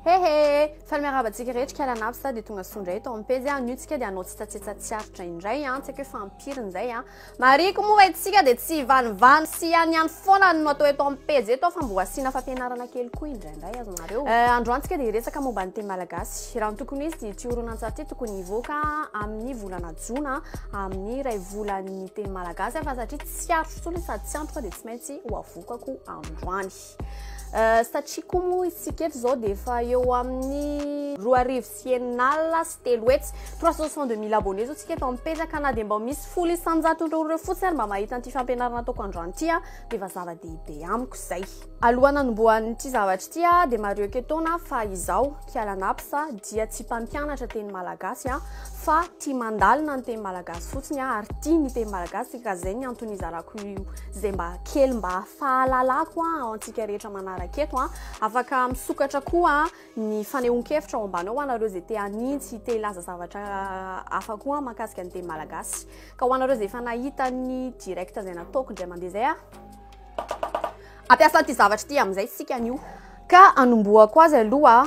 He he! Faly miarahaba antsika rehetra kala an'avy sa dia tonga soa indray eto amin'ny pejy an, niotsika dia hanao tsetsatsetsa tsy aritra indray an, tsy haiko hoe fa ampiry izay an. Marihiko moa fa itsika dia tsy hivanivany sy ihany ihany foana no atao eto amin'ny pejy eto fa mboa asiana fampianarana kely koa indraindray azonareo. Eh, androany tsika dia hiresaka momba ny teny malagasy. Raha ny tokony izy dia ity horonantsary ity tokony hivoaka amin'ny volana jona amin'ny iray volan'ny teny malagasy fa satria tsy aritra intsony sady tsy androka dia tsy maintsy ho avokako androany. Satria koa moa isika eto izao dia efa eo amin'ny roa arivo sy enina alina sy telo hetsy, trois cent soixante deux mille abonnés izao isika efa mipetraka, na dia mba misy folo isan-jato ireo ireo fotsiny ary mba mahita an'ity fampianarana ataoko androany ity aho dia efa zava-dehibe amiko izay. Alohan'ny hanombohan'ity zavatra ity aho dia marioko etoana fa izaho, Kiala Naps, dia tsy mpampianatra teny malagasy fa tia mandalina ny teny malagasy fotsiny aho ary tia ny teny malagasy ka izay ny antony hizarako izay mba kely mba fahalalako an, ho antsika rehetra manaraka eto an. Afaka misokatra koa ny fanehoan-kevitra ao ambany ao ho anareo izay te hanintsy, te hilaza zavatra hafa koa an, mahakasika ny teny malagasy. Ka ho anareo izay efa nahita ny direct izay nataoko indray mandeha izay an. Ampiasa an'ity zavatra ity amin'izay isika anio. Ka anombohako azy aloha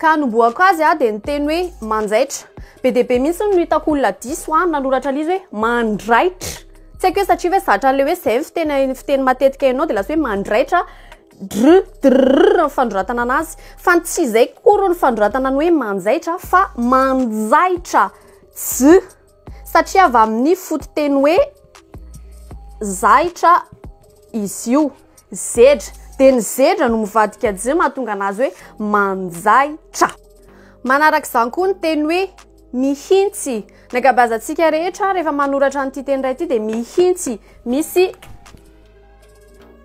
Ka hanombohako azy aho dia niteny hoe manjaitra. Be dia be mihitsy no hitako olona diso aho nanoratra an'izy hoe mandraitra. Tsy haiko hoe satria hoe zatra an'ilay hoe izay ny fiteny fiteny matetika hainao dia lasa hoe mandraitra dr drr ny fanoratana anazy fa ny tsy izay kory ny fanoratana ny hoe manjaitra fa manjaitra. J. Satria avy amin'ny fototeny hoe zahitra izy io. Zedra. Dia ny zedra no mivadika je mahatonga anazy hoe manjaitra. Manaraka izany koa ny teny hoe mihitsy. Ny ankabeazantsika rehetra rehefa manoratra an'ity teny iray ity dia mihitsy. Misy.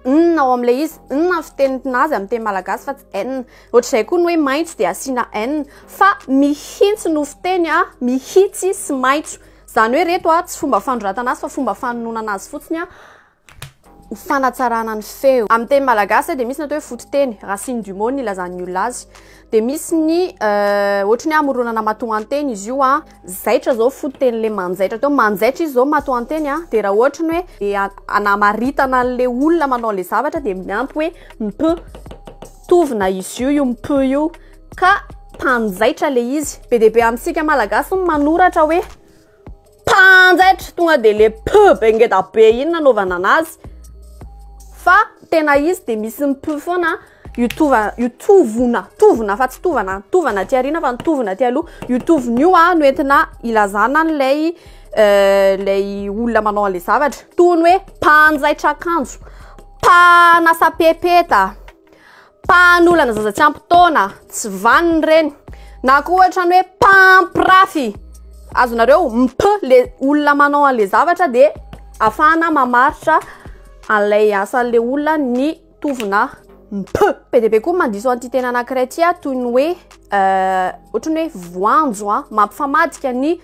n ao amin'ilay izy n amin'ny fiteny tinazy amin'ny teny malagasy fa tsy n ohatr'izay koa ny hoe maitso dia asiana n fa mihitsy no fiteny a mihitsy sy maitso izany hoe reto a tsy fomba fanoratana azy fa fomba fanononana azy fotsiny a ho fanatsarana ny feo amin'ny teny malagasy dia misy ny atao hoe fototeny racine du mot ny ilazan'ny olona azy dia misy ny ohatry ny hamoronana matoanteny izy io a Zaitra zao fototeny le manjaitra teo, manjaitra izy zao matoanteny a, de raha ohatra ny hoe de anamaritana an'le olona manao le zavatra de miampy hoe mp, mitovy na izy io io mp io ka mpanjaitra le izy, be dia be amintsika malagasy ny manoratra hoe mpanjaitra tonga de le mp be ngeda be iny nanaovana anazy fa tena izy de misy mp foana a. Io tova, io tovona, tovona fa tsy tovana, tovana aty arina fa ny tovona aty aloha, io tovona io a no entina ilazana an'ilay ilay olona manao an'ilay zavatra, toy ny hoe mpanjaitra akanjo, mpanasa pepeta, mpanolana zaza tsy ampy taona, tsy vanona ireny, na koa ohatra ny hoe mpampirafy, azonareo? mp le olona manao an'ilay zavatra dia afahana mamaritra an'ilay asan'ilay olona ny. tovona ny p. Be dia be koa ny mandiso an'ity teny anankiray ity a, toy ny hoe ohatran'ny hoe voanjo a, mampifamadika ny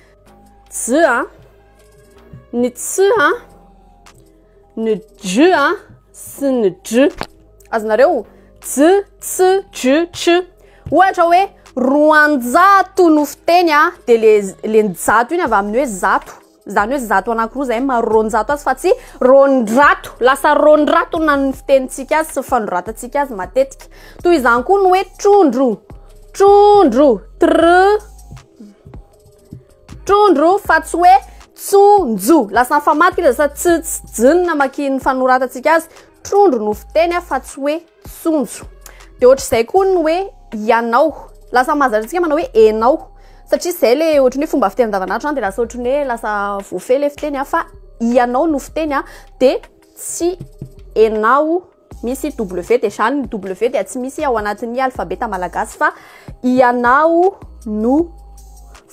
j a, ny ts a, ny j a sy ny dr. Azonareo? J, ts, dr, tr. Ohatra hoe roanjato no fiteny a, dia le le ny jato iny avy amin'ny hoe zato. Zany hoe zato anakiroa zay maro roanjato azy fa tsy roandrato. Lasa roandrato na ny fitenintsika azy sy ny fanoratantsika azy matetika. Toy izany koa ny hoe trondro, trondro, tr trondro fa tsy hoe tsonjo. Lasa famaty lasa tsy tsy jinina makin'ny fanoratantsika azy. Trondro no fiteny fa tsy hoe Sonjo. Dia ohatr'izay koa ny hoe ianao. Lasa mahazatra antsika manao hoe enao. Satria izay le ohatry ny hoe fomba fiteny andavanandro izany dia lasa ohatry ny hoe lasa voafehy le fiteny an fa ianao no fiteny an dia tsy enao misy W dia izany ny W dia tsy misy ao anatin'ny alfabeta malagasy fa ianao no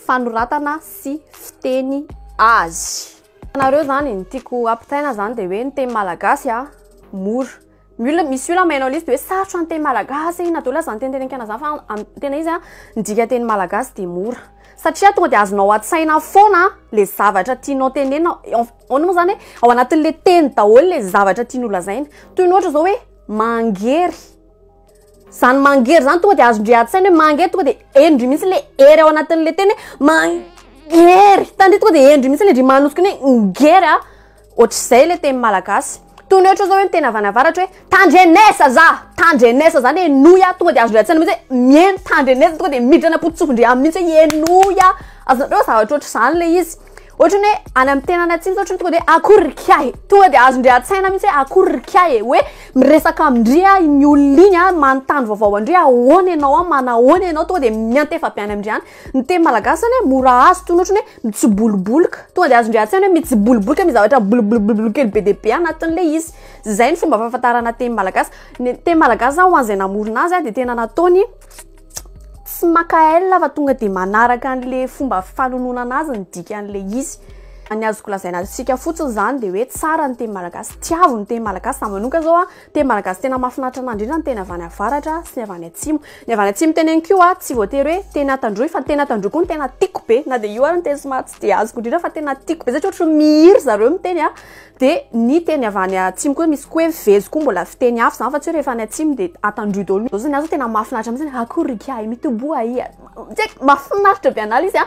fanoratana sy fiteny azy. Anareo izany ny tiako hampitaina izany dia hoe ny teny malagasy an mora Ny olona misy olona mahay an'ilay izy dia hoe sarotra ny teny malagasy na dia hoe laza ny teny teny an-kiana zany fa amin'ny tena izy a ny dikan-teny malagasy dia mora satria tonga dia azonao an-tsaina foana le zavatra tianao tenenina ahoana moa zany hoe ao anatin'le teny daholo le zavatra tiany ho lazaina toy ny ohatra zao hoe mangery zany mangery zany tonga dia azondry an-tsaina hoe mangery tonga dia henondry mihitsy le hery ao anatin'le teny hoe mangery tandritra tonga dia henondry mihitsy le ndry manosiky ny hoe ngery a Otrzay le teny malagasy. Toy ny ohatra zao hoe miteny avanavaratra hoe tandrenesa za! Tandrenesa zany henoy a! Tonga de azon'ilay an-tsaina mihitsy hoe miheno tandrenesa tonga de miditra any am-pototsofin-dry aminy mihitsy hoe henoy a! Azonareo hoe zavatra ohatr'izany le izy. Ohatrany hoe any amin'ny tena any atsimo zao ohatrany tonga de hoe akory ry kiahy e! Tonga de azon-dry an-tsaina mihitsy hoe akory ry kiahy e! Hoe miresaka amin-dry a iny olona iny a, manontany vaovao an-dry ahoana ianao a, manahoana ianao? Tonga de miantefa be any amin-dry any. Ny teny malagasy zany hoe mora azo toy ny ohatry ny hoe mitsibolobolika. Tonga dia azon-dry an-tsaina hoe mitsibolobolika misy zavatra mibolobolobolobolo kely be dia be anatin'ilay izy. Izay ny fomba fahafantarana teny malagasy. Ny teny malagasy zany ho an'izay namorona azy dia tena nataony tsy maka aile fa tonga dia manaraka an'ilay fomba fanononana azy ny dikan'ilay izy. Ny azoko lazaina antsika fotsiny izany dia hoe tsara ny teny malagasy, tiavo ny teny malagasy. Izaho manokana izao Teny malagasy tena mahafinaritra anah indrindra ny teny avy any avaratra sy ny avy any atsimo. Ny avy any atsimo teneniko io a, tsy voatery hoe teny Antandroy fa ny teny Antandroy koa no tena tiako be. Na dia io ary no teny somary tsy dia azoko indrindra fa tena tiako be satria ohatry ny mihira zareo miteny a. Dia ny teny avy any atsimo koa misy koa hoe vezo koa mbola fiteny hafa izany fa tsy hoe rehefa any atsimo dia Antandroy daholo. Izao zao ny ahy izao tena mahafinaritra mihitsy, akory ry kiahy mitoboha ahy a. Tsy haiko, mahafinaritra be anah ilay izy a.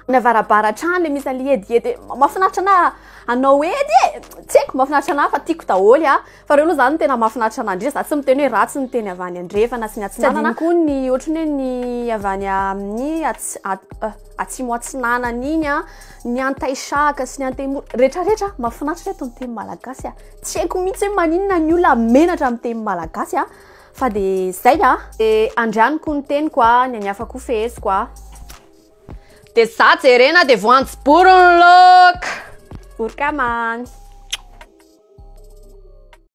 Ny avarabara hatrany ilay misy an'ilay edihedy hoe mahafinaritra anah hanao edy e! Tsy haiko, mahafinaritra anah fa tiako daholo a. Fa reo aloha zany tena mafinaritra mandria za tsy miteny hoe ratsy ny teny avy any andrefana sy ny atsinanana, tsy adino koa ny ohatry ny hoe ny avy any amin'ny atsimo atsinanana iny a, ny antaisahaka sy ny antemoro retraretra mafinaritra reto ny teny malagasy a, tsy haiko mitsy hoe maninona ny olona menatra amin'ny teny malagasy a, fa de zay a. Andrianiko ny teniko a, ny an'ny hafa koa feheziko a. De za jerena de voanjo bory ny look. Vory ka man.